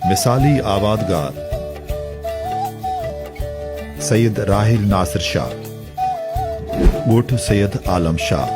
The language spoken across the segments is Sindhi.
مثالي آوادگار، سيد راحيل ناصر شاهه، ڳوٺ سيد عالم شاهه،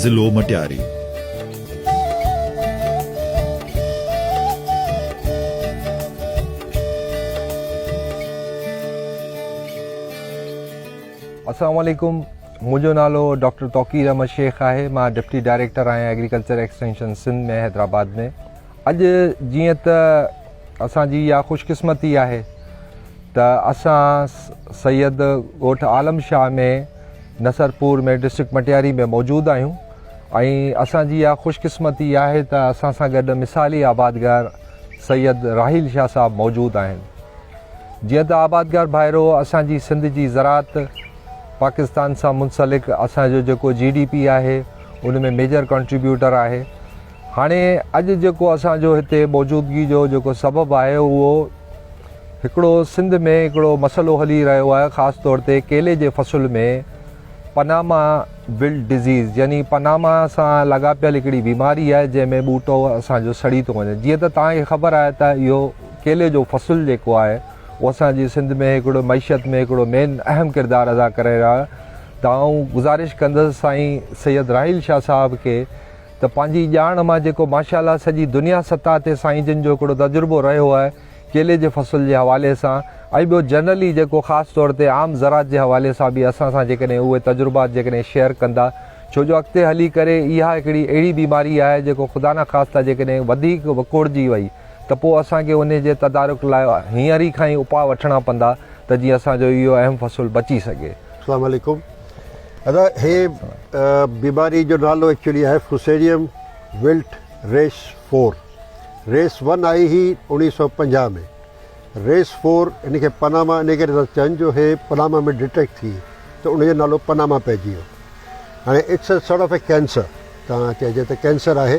ضلعو مٽياري. السلام عليڪم منهنجو نالو ڊاڪٽر توقير احمد شيخ آهي مان ڊپٽي ڊائريڪٽر آهيان ايگريڪلچر ايڪسٽينشن سنڌ ۾ حيدرآباد ۾ اڄ جيئن ته اسان جي اها خوش قسمتي آهي ته اسان سيد ڳوٺ عالم شاهه ۾ نصرپور ۾ ڊسٽرڪٽ مٽياري ۾ موجود آهيون ۽ اسان جي اها خوش قسمتي آهي ته اسان سان گڏ مثالي آبادگار سيد راحيل شاهه صاحب موجود آهن جيئن ته آبادگار ڀائرو اسان جي سنڌ جي زراعت پاڪستان سان منسلڪ اسان جو جيڪو جي ڊي پي آهي ان ۾ ميجر ڪنٽريبيوٽر آهي هاڻي اڄ جيڪو اسان جو هتي موجودگي جو جيڪو سبب آهي اهو هڪڙو سنڌ ۾ هڪڙو مسئلو هلي رهيو آهي خاص طور تي ڪيلي جي فصل ۾ پناما ول ڊزيز يعني پناما سان لاڳاپيل هڪڙي بيماري آهي جنهن ۾ ٻوٽو اسان جو سڙي ٿو وڃي جيئن ته تان کي خبر آهي ته اهو ڪيلي جو فصل جيڪو آهي هو اسان جي سنڌ ۾ هڪڙو معيشت ۾ هڪڙو مين اهم ڪردار ادا ڪري رهيا ته آئون گذارش ڪندس سائين سيد راحيل شاهه صاحب کي ته پنهنجي ڄاڻ مان جيڪو ماشاءالله سڄي دنيا سطح تي سائين جن جو هڪڙو تجربو رهيو آهي ڪيلي جي فصل جي حوالي سان ۽ ٻيو جنرلي جيڪو خاص طور تي عام زراعت جي حوالي سان به اسان سان جيڪڏهن اهي تجربات جيڪڏهن شيئر ڪندا ڇو جو اڳتي هلي ڪري اها هڪڙي اهڙي بيماري آهي جيڪو خدا نه خاصتا جيڪڏهن وڌيڪ وڪوڙجي وئي ته پوء اسان کي انهي جي تدارڪ لاء هينئر ئي کان ئي اپاء وٺڻا پوندا ته جيئن اسان جو اهو اهم فصل بچي سگهي. اسلام عليڪم ادا هي بيماري جو نالو ايڪچولي آهي fusarium wilt race four race one آئي هي اوڻيهه سؤ پنجاهه ۾ ريس فور هن کي پناما انهي ڪري ٿا چون جو هي پناما ۾ ڊيٽيڪٽ ٿي ته ان جو نالو پناما پئجي ويو هاڻي it's a sort of a cancer تان چئجي ته ڪينسر آهي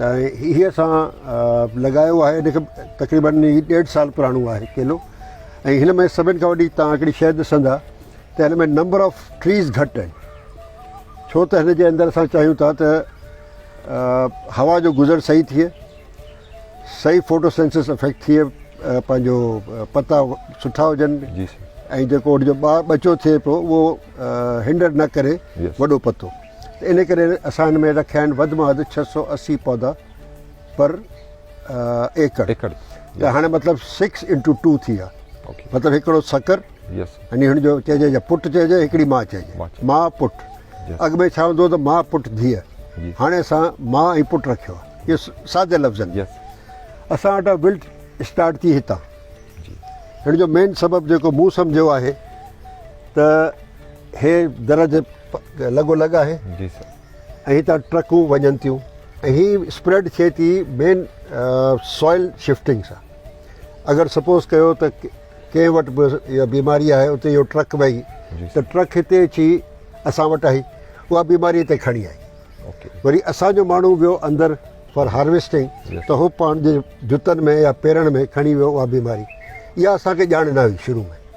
۽ هي اسان لڳايو آهي ان کي تقريبن ڏيڍ سال پراڻو آهي ڪيلو ۽ هن ۾ سڀني کان وڏي توهان هڪڙي شيء ڏسندا ته هن ۾ نمبر آف ٽريز گهٽ آهن ڇو ته هن جي اندر اسان چاهيون ٿا ته هوا جو گذر صحيح ٿئي صحيح فوٽو سينسس افيڪٽ ٿئي پنهنجو پتا سٺا هجن ۽ جيڪو ان جو ٻچو ٿئي پيو اهو هنڊر نه ڪري وڏو پتو ته ان ڪري اسان هن ۾ رکيا آهن وڌ مان وڌ ڇهه سؤ اسي پودا پر ايڪڙ ته هاڻي مطلب سڪس انٽو ٽو ٿي ويا مطلب هڪڙو سکر يعني هن جو چئجي يا پٽ چئجي هڪڙي ماء چئجي ماء پٽ اڳ ۾ ڇا هوندو هو ته ماء پٽ ڌيء هاڻي اسان ماء ۽ پٽ رکيو آهي اهو سادي لفظن ۾ اسان وٽ ولٽ اسٽارٽ ٿي هتان هن جو مين سبب جيڪو مون سمجهيو آهي ته هي درج لڳو لڳ آهي ۽ هتان ٽرڪون وڃن ٿيون ۽ هي اسپريڊ ٿئي ٿي مين سوئل شفٽنگ سان اگر سپوز ڪيو ته ڪنهن وٽ به اها بيماري آهي اتي اهو ٽرڪ وئي ته ٽرڪ هتي اچي اسان وٽ آئي اها بيماري هتي کڻي آئي وري اسانجو ماڻهو ويو اندر فار هارويسٽنگ ته هو پنهنجي جوتن ۾ يا پيرن ۾ کڻي ويو اها بيماري اها اسانکي ڄاڻ نه هئي شروع ۾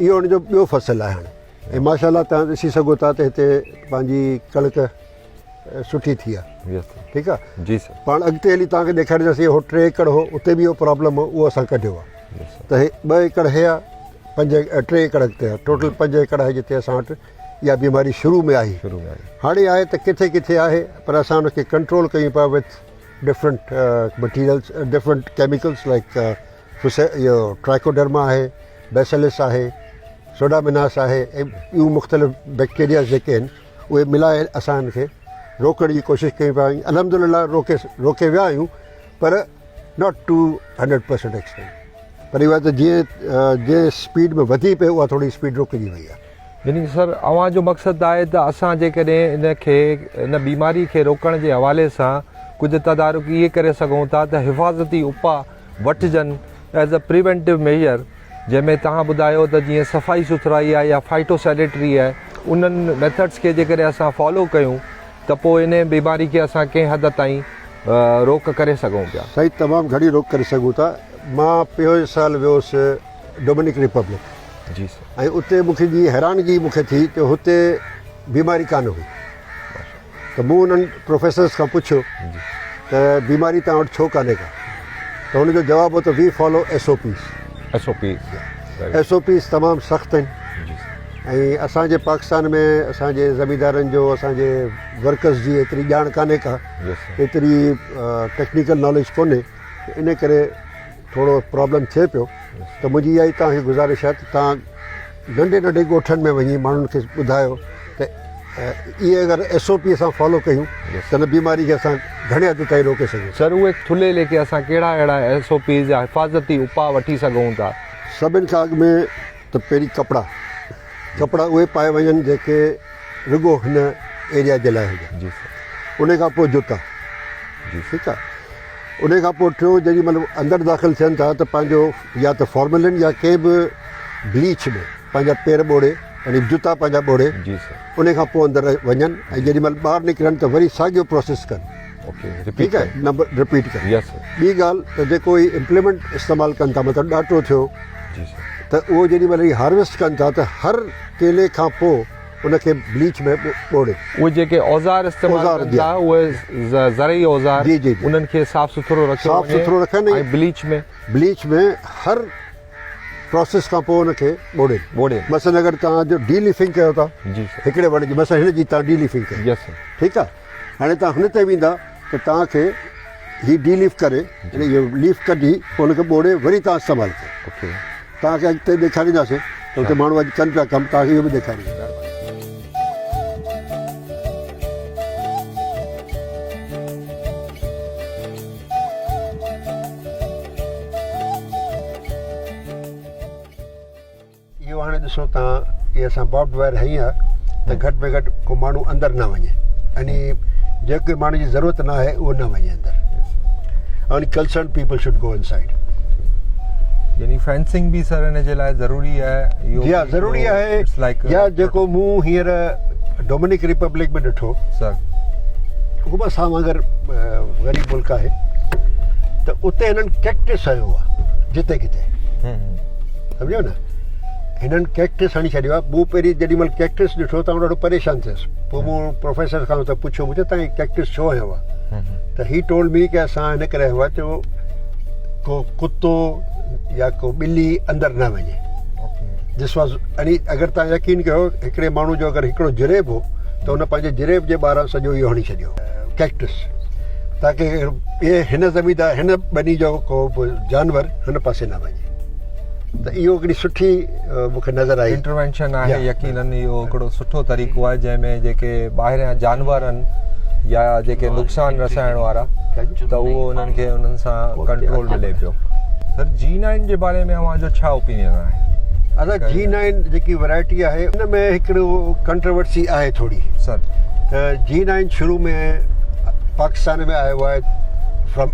اهو ان جو ٻيو فصل آهي هاڻي ۽ ماشاء الله توهان ڏسي سگهو ٿا ته هتي پنهنجي ڪڻڪ سٺي ٿي آهي ٺيڪ آهي پاڻ اڳتي هلي توهان کي ڏيکارينداسين اهو ٽي ايڪڙ هو اتي به اهو پرابلم هو اهو اسان ڪڍيو آهي ته هي ٻه ايڪڙ هي آهي پنج ٽي ايڪڙ اڳتي آهي ٽوٽل پنج ايڪڙ آهي جتي اسان وٽ اها بيماري شروع ۾ آهي هاڻي آهي ته ڪٿي ڪٿي آهي پر اسان ان کي ڪنٽرول ڪيون پيا with different materials different chemicals like اهو ٽرائڪوڊرما آهي، بيسلس آهي، سوڊاميناس آهي ۽ ٻيون مختلف بيڪٽيرياز جيڪي آهن اهي ملائي اسان هن کي روڪڻ جي ڪوشش ڪيون پيا ۽ الحمد لله روڪي روڪي ويا آهيون پر not to hundred percent extent پر اهو آهي ته جيئن جيئن اسپيڊ ۾ وڌي پئي اها ٿوري اسپيڊ روڪجي وئي آهي. يعني سر اوهان جو مقصد ته آهي ته اسان جيڪڏهن ان کي ان بيماري کي روڪڻ جي حوالي سان ڪجهه تدارڪ اهي ڪري سگهون ٿا ته حفاظتي اپاء وٺجن ايز اي پريونٽيو ميزر جنهن ۾ توهان ٻڌايو ته جيئن صفائي سٿرائي آهي يا فائٽو سينيٽري آهي انهن ميٿڊس کي جيڪڏهن اسان فالو ڪيون ته پوء انهي بيماري کي اسان ڪنهن حد تائين روڪ ڪري سگهون پيا. سائين تمام گهڻي روڪ ڪري سگهون ٿا مان پوئين سال ويوس ڊومينيڪ ريپبلڪ جي سر ۽ اتي مون کي جي حيرانگي مون کي ٿي ته هتي بيماري ڪانه هئي. ته مون انهن پروفيسرز کان پڇيو ته بيماري توهان وٽ ڇو ڪانهي ڪا؟ ته ان جو جواب هو ته we follow S O Ps. S O Ps right. S O Ps تمام سخت آهن جي سر. ۽ اسان جي پاڪستان ۾ اسان جي زميندارن جو اسان جي ورڪرز جي ايتري ڄاڻ ڪانهي ڪا. جي سر. ايتري ٽيڪنيڪل ناليج ڪونهي ته ان ڪري ٿورو پرابلم ٿئي پيو ته منهنجي اها ئي توهان کي گذارش آهي ته توهان ننڍي ننڍي ڳوٺن ۾ وڃي ماڻهن کي ٻڌايو ته اهي اگر ايس او پي اسان فالو ڪيون ته ان بيماري کي اسان گهڻي حد تائين روڪي سگهون سر اهي ٿلهي ليڪي اسان ڪهڙا اهڙا ايس او پيز يا حفاظتي اپاء وٺي سگهون ٿا؟ سڀن کان اڳ ۾ ته پهرين ڪپڙا ڪپڙا اهي پائي وڃن جيڪي رڳو هن ايريا جي لاء هجن جي سر ان کان پوء جوتا جي ٺيڪ آ ان کان پوء ٽيو جيڏي مهل اندر داخل ٿين ٿا ته پنهنجو يا ته فارملن يا ڪنهن به بليچ ۾ پنهنجا پير ٻوڙي يعني جوتا پنهنجا ٻوڙي جي سر ان کان پوء اندر وڃن ۽ جيڏي مهل ٻاهر نڪرن ته وري ساڳيو پروسيس ڪن ٺيڪ آهي نمبر رپيٽ ڪر يس سر ٻي ڳالهه ته جيڪو هي امپليمنٽ استعمال ڪن ٿا مطلب ڏاٽو ٿيو جي سر ته اهو جيڏي مهل هي هارويسٽ ڪن ٿا ته هر ڪيلي کان پوء ان کي بليچ ۾ ٻوڙي اهي جيڪي اوزار استعمال اوزار ڪن جي. ٿا اهي ز- زرعي اوزار جي، جي، جي. انهن کي صاف سٿرو رکيو صاف وڃي سٿرو رکن ۽- ۽ بليچ ۾ بليچ ۾ هر پروسيس کان پوء ان کي ٻوڙي ٻوڙي. مثلا اگر توهان جو ڊي ليفنگ ڪيو ٿا جي سر هڪڙي وڻ جي مثلا هن جي تان ڊي ليفنگ ڪئي يس سر ٺيڪ آهي هاڻي توهان هن تي ويندا ته توهان کي هي ڊي ليف ڪري يعني اهو ليف ڪڍي پوء ان کي ٻوڙي وري توهان استعمال ڪيو توهان کي اڳتي ڏيکارينداسين ته اتي ماڻهو اڄ ڪن پيا ڪم توهان کي اهو به ڏيکارينداسين. اهو هاڻي ڏسو تان اهي اسان بابڊ وائر هنئي ها ته گهٽ ۾ گهٽ ڪو ماڻهو اندر نه وڃي يعني جيڪي ماڻهو جي ضرورت نه آهي اهو نه وڃي اندر ان ڪلسرن people should go inside يعني فينسنگ به سر ان جي لاء ضروري آهي اهو جي ضروري آهي يا جيڪو مون هينئر ڊومينيڪ ريپبلڪ ۾ ڏٺو سر هو به اسان وانگر غريب ملڪ آهي ته اتي هنن ڪيڪٽس هنيو آهي جتي ڪٿي سمجهيو نه هنن ڪيڪٽس هڻي ڇڏيو آهي مون پهرين جيڏي مهل ڪيڪٽس ڏٺو ته آئون ڏاڍو پريشان ٿيس پوء مون پروفيسر کان ته پڇيو مون چيو تان هي ڪيڪٽس ڇو هنيو آهي ته هي ٽولڊ مي ڪي اسان هن ڪري هنيو آهي جو ڪو ڪتو يا ڪو ٻلي اندر نه وڃي دس واز يعني اگر تان يقين ڪيو هڪڙي ماڻهو جو اگر هڪڙو جريب هو ته هن پنهنجي جريب جي ٻاهران سڄو اهو هڻي ڇڏيو ڪيڪٽس تاڪي هن زميندار هن ٻني جو ڪو جانور هن پاسي نه وڃي ته اهو هڪڙي سٺي مون کي نظر آئي انٽروينشن آهي يقينن اهو هڪڙو سٺو طريقو آهي جنهن ۾ جيڪي ٻاهريان جانور آهن يا جيڪي نقصان رسائڻ وارا ته اهو انهن کي انهن سان ڪنٽرول ملي پيو سر جي نائن جي باري ۾ اوهان جو ڇا اوپينين آهي ادا جي نائن جيڪي ورائٽي آهي ان ۾ هڪڙو ڪنٽروورسي آهي ٿوري سر ته جي نائن شروع ۾ پاڪستان ۾ آيو آهي فرام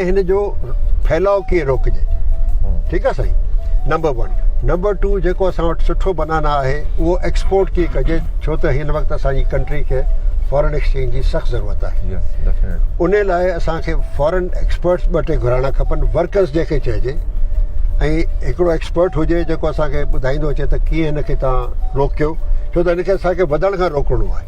ته هن جو ڦهلاء ڪيئن روڪجي ٺيڪ آهي سائين نمبر ون نمبر ٽو جيڪو اسان وٽ سٺو بنانا آهي اهو ايڪسپورٽ ڪيئن ڪجي ڇو ته هن وقت اسانجي ڪنٽري کي فارن ايڪسچينج جي سخت ضرورت آهي ان لاء اسانکي فارن ايڪسپرٽس ٻه ٽي گهرائڻا کپن ورڪرس جنهنکي چئجي ۽ هڪڙو ايڪسپرٽ هجي جيڪو اسانکي ٻڌائيندو اچي ته ڪيئن هن کي تان روڪيو ڇو ته هن کي اسانکي وڌڻ کان روڪڻو آهي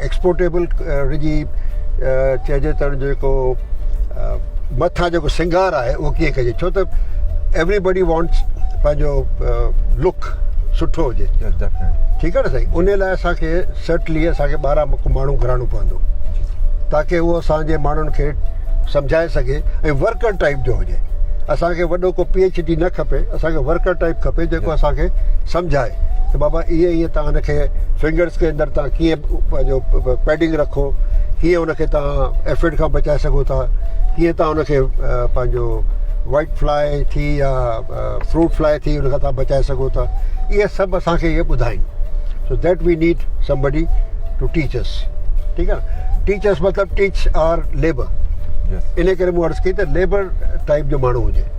ايڪسپورٽيبل رڳي چئجي ته جيڪو مٿان جيڪو سنگار آهي اهو ڪيئن ڪجي ڇو ته ايوري بڊي وانٽس پنهنجو لڪ سٺو هجي ٺيڪ آهي نه سائين ان لاء اسان کي سرٽلي اسان کي ٻاهران مک ماڻهو گهرائڻو پوندو تاڪي اهو اسان جي ماڻهن کي سمجهائي سگهي ۽ ورڪر ٽائيپ جو هجي اسان کي وڏو ڪو پي ايڇ ڊي نه کپي اسان کي ورڪر ٽائيپ کپي جيڪو اسان کي سمجهائي ته بابا ائين ائين تان ان کي فنگرز کي اندر تان ڪيئن پنهنجو پيڊنگ رکو ڪيئن ان کي تان ايفڊ کان بچائي سگهو ٿا ڪيئن تان ان کي پنهنجو وائيٽ فلاء ٿي يا فروٽ فلاء ٿي ان کان تان بچائي سگهو ٿا اهي سڀ اسان کي اهي ٻڌائين so that we need somebody to teach us ٺيڪ آ ٽيچ اس مطلب ٽيچ آر ليبر ان ڪري مون عرض ڪئي ته ليبر ٽائيپ جو ماڻهو هجي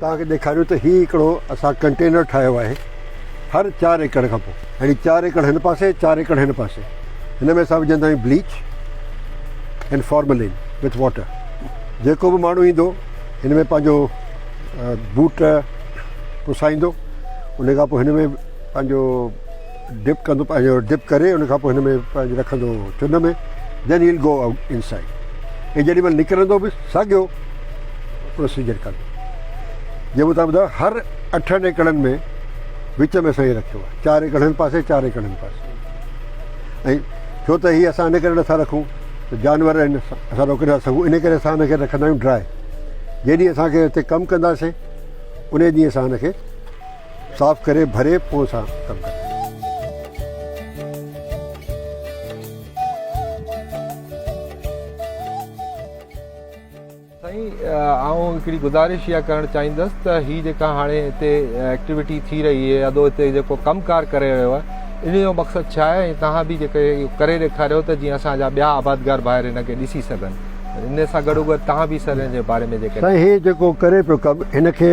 توهان کي ڏيکاريون ته هي هڪڙو اسان ڪنٽينر ٺاهيو آهي هر چار ايڪڙ کان پوء يعني چار ايڪڙ هن پاسي چار ايڪڙ هن پاسي هن ۾ اسان وجهندا آهيون bleach and formalin with water جيڪو به ماڻهو ايندو هن ۾ پنهنجو بوٽ پسائيندو ان کان پوء هن ۾ پنهنجو ڊپ ڪندو پنهنجو ڊپ ڪري ان کان پوء هن ۾ پنهنجو رکندو هو چن ۾ دين هيل گو آئوٽ ان سائيڊ ۽ جيڏي مهل نڪرندو به ساڳيو پروسيجر ڪندو جي مون تان ٻڌايو هر اٺن ايڪڙن ۾ وچ ۾ سائين رکيو آهي چار ايڪڙ هن پاسي چار ايڪڙ هن پاسي ۽ ڇو ته هي اسان ان ڪري نٿا رکون ته جانور آهن اسان روڪي نٿا سگھون ان ڪري اسان هنکي رکندا آهيون ڊراء جيڏي اسانکي هتي ڪم ڪنداسين ان ڏينهن اسان هنکي صاف ڪري ڀري پون سان ڪم ڪرڻ گهرجي. سائين آئون هڪڙي گذارش اها ڪرڻ چاهيندس ته هي جيڪا هاڻي هتي ايڪٽيوٽي ٿي رهي هي ادو هتي جيڪو ڪم ڪار ڪري رهيو آهي ان جو مقصد ڇا آهي ۽ توهان به جيڪو اهو ڪري ڏيکاريو ته جيئن اسان جا ٻيا آبادگار ڀائر ان کي ڏسي سگهن ان سان گڏو گڏ توهان به سر ان جي باري ۾ جيڪڏهن سائين هي جيڪو ڪري پيو ڪم هن کي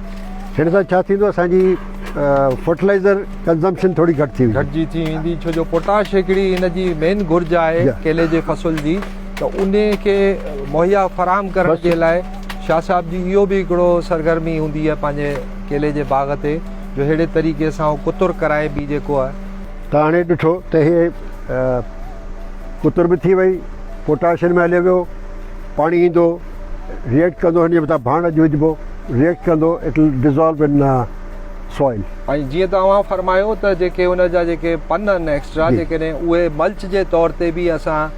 هن سان ڇا ٿيندو اسان جي فرٽلائيزر ڪنزمپشن ٿوري گهٽ ٿي ويندي. گهٽجي ٿي ويندي ڇو جو پوٽاش هڪڙي هن جي مين گهرج آهي ڪيلي جي فصل جي ته انهي کي مهيا فراهم ڪرڻ جي لاء شاهه صاحب جي اهو به هڪڙو سرگرمي هوندي آهي پنهنجي ڪيلي جي باغ تي جو ههڙي طريقي سان هو ڪتر ڪرائي به جيڪو آهي. تان هاڻي ڏٺو ته هي ڪتر به ٿي وئي پوٽاش هن ۾ هليو ويو پاڻي ايندو. ريئيڪٽ ڪندو هن جي مٿان ڀاڻ اڄ وجهبو ريئيڪٽ ڪندو it will dissolve in soil. ۽ جيئن ته اوهان فرمايو ته جيڪي ان جا جيڪي پن آهن ايڪسٽرا جيڪڏهن اهي ملچ جي طور تي به اسان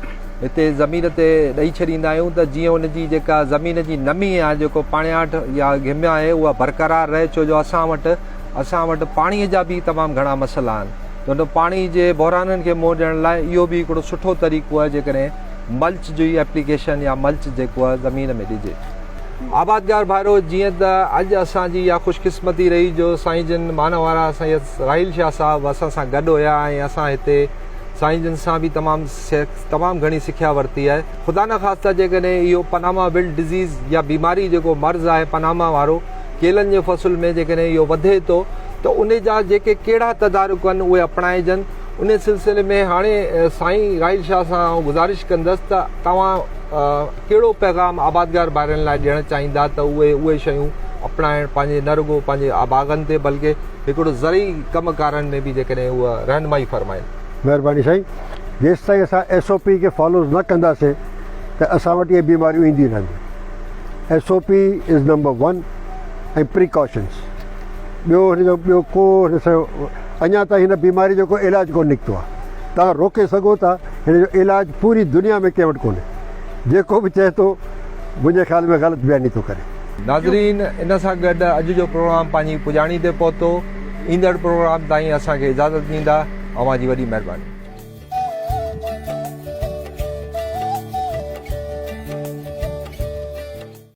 هتي زمين تي ڏئي ڇڏيندا آهيون ته جيئن ان جي جيڪا زمين جي نمي آهي جيڪو پاڻياٺ يا گهم آهي اها برقرار رهي ڇو جو اسان وٽ اسان وٽ پاڻي جا به تمام گهڻا مسئلا آهن ته ان پاڻي جي بحرانن کي منهن ڏيڻ لاء اهو به هڪڙو سٺو طريقو آهي جيڪڏهن ملچ جي ايپليڪيشن يا ملچ جيڪو زمين ۾ ڏجي. آبادگار ڀائرو جيئن ته اڄ اسان جي اها خوش قسمتي رهي جو سائين جن مان وارا سيد راحيل شاهه صاحب اسان سان گڏ هيا ۽ اسان هتي سائين جن سان به تمام تمام گهڻي سکيا ورتي آهي خدا نخواسته جيڪڏهن اهو پناما ولڊ ڊزيز يا بيماري جيڪو مرض آهي پناما وارو ڪيلن جي فصل ۾ جيڪڏهن اهو وڌي ٿو ته ان جا جيڪي ڪهڙا تدارڪ آهن اهي اپڻائجن ان سلسلي ۾ هاڻي سائين راحيل شاهه سان آئون گذارش ڪندس ته توهان ڪهڙو پيغام آبادگار ڀائرن لاء ڏيڻ چاهيندا ته اهي اهي شيون اپنائڻ پنهنجي نه رڳو پنهنجي باغن تي بلڪه هڪڙو زرعي ڪم ڪارن ۾ به جيڪڏهن اهو رهنمائي فرمائين. مهرباني سائين جيستائين اسان ايس او پي کي فالوز نه ڪنداسين ته اسان وٽ اهي بيماريون اينديون رهنديون S O P is number one ۽ precautions ٻيو هن جو ٻيو ڪو هن سان اڃا تائين هن بيماري جو ڪو علاج ڪونه نڪتو آهي. توهان روڪي سگهو ٿا، هن جو علاج پوري دنيا ۾ ڪنهن وٽ ڪونهي. جيڪو به چئي ٿو، منهنجي خيال ۾ غلط بياني ٿو ڪري. ناظرين ان سان گڏ اڄ جو پروگرام پنهنجي پڄاڻي تي پهتو. ايندڙ پروگرام تائين اسان کي اجازت ڏيندا. اوهان جي وڏي مهرباني.